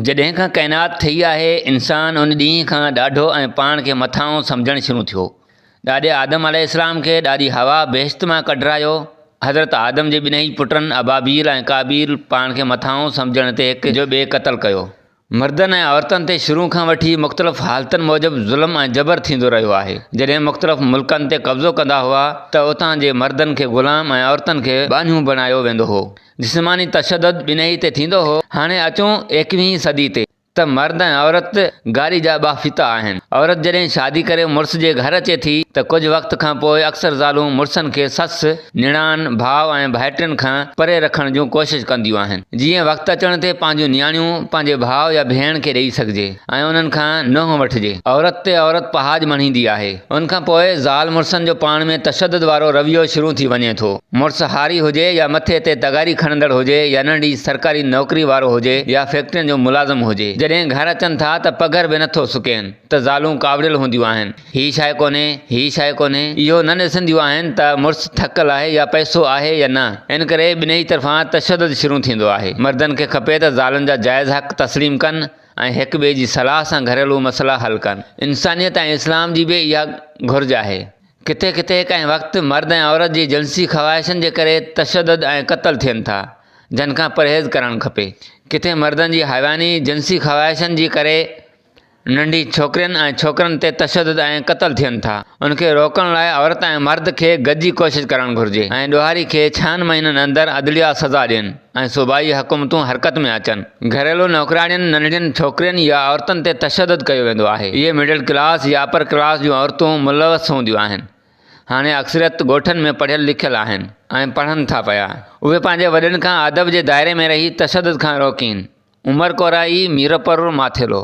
جڏهن کان ڪائنات ٺهي آهي، انسان ان ڏينهن کان ڏاڍو ۽ پاڻ کي مٿانهون سمجهڻ شروع ٿيو. ڏاڏي آدم عليه السلام کي ڏاڏي حوا بهشت مان ڪڍرايو. حضرت آدم جي ٻنهي پٽن ابابيل ۽ قابيل پاڻ کي مٿانهون سمجهڻ تي هڪ جو ٻئي قتل ڪيو. مردن ۽ عورتن تي شروع کان وٺي مختلف حالتن موجب ظلم ۽ جبر ٿيندو رهيو آهي. جڏهن مختلف ملڪن تي قبضو ڪندا هئا ته اتان جي مردن کي غلام ۽ عورتن کي ٻانهيون بڻايو ويندو هو. جسماني تشدد ٻنهي تي ٿيندو هو، هاڻي اچون ايڪويهين صدي تي ته مرد ۽ عورت گاري جا ٻه فيتا آهن. عورت جڏهن شادي ڪري مڙس جي گهر اچي ٿي ته ڪجهه وقت کان پوء اڪثر زالون مڙسن کي سس، نڻان، ڀاء ۽ ڀائٽين کان پري رکڻ جون ڪوشش ڪنديون آهن جيئن وقت اچڻ تي پنهنجون نياڻيون پنهنجي ڀاء يا ڀيڻ کي ڏئي سگهجي. ۽ انهن کان نوح وٺجي. عورت تي عورت پهاڄ مڙهيندي آهي. ان کان پوء زال مڙسن جو پاڻ ۾ تشدد وارو رويو شروع ٿي وڃي ٿو. مڙس هاري هجي يا مٿي تي تغاري کڻندڙ هجي يا ننڍي سرڪاري نوڪري وارو هجي يا فيڪٽرين جو ملازم هجي. جڏهن گهر اچن ٿا ته پگهر به نه ٿو سڪين ته زالون ڪاوڙيل هونديون آهن. هي شيء ڪونهي، هي شيء ڪونهي. اهو نه ڏسنديون آهن ته مڙس ٿڪل آهي يا پئسو آهي يا نه. ان ڪري ٻنهي طرفان تشدد شروع ٿيندو آهي. مردن کي کپي ته زالن جا جائز حق تسليم ڪن ۽ هڪ ٻئي جي صلاح سان گهريلو مسئلا حل ڪن. انسانيت ۽ اسلام جي به اها گهرج آهي. ڪٿي ڪٿي ڪنهن وقت مرد ۽ عورت جي جنسي خواهشن جي ڪري تشدد ۽ قتل ٿين ٿا، جن کان پرهيز ڪرڻ کپي. ڪٿي مردن جي حيواني جنسي خواهشن جي ڪري ننڍي ڇوڪرين ۽ ڇوڪرن تي تشدد ۽ قتل ٿين ٿا. ان کي روڪڻ لاء عورت ۽ مرد کي گڏجي ڪوشش ڪرڻ گهرجي ۽ ڏوهاري کي ڇهن مهينن اندر عدليا سزا ڏين. ۽ صوبائي حڪومتون حرڪت ۾ اچن. گهريلو نوڪراڻين، ننڍين ڇوڪرين يا عورتن تي تشدد ڪيو ويندو آهي. اهي مڊل ڪلاس يا اپر ڪلاس جون عورتون ملوث هونديون آهن. هاڻي اڪثريت ڳوٺن ۾ پڙهيل لکيل آهن ۽ پڙهن ٿا پيا. اهي پنهنجي وڏن کان ادب جي دائري ۾ رهي تشدد کان روڪين. عمر ڪورائي، ميرپور، ماٿيلو.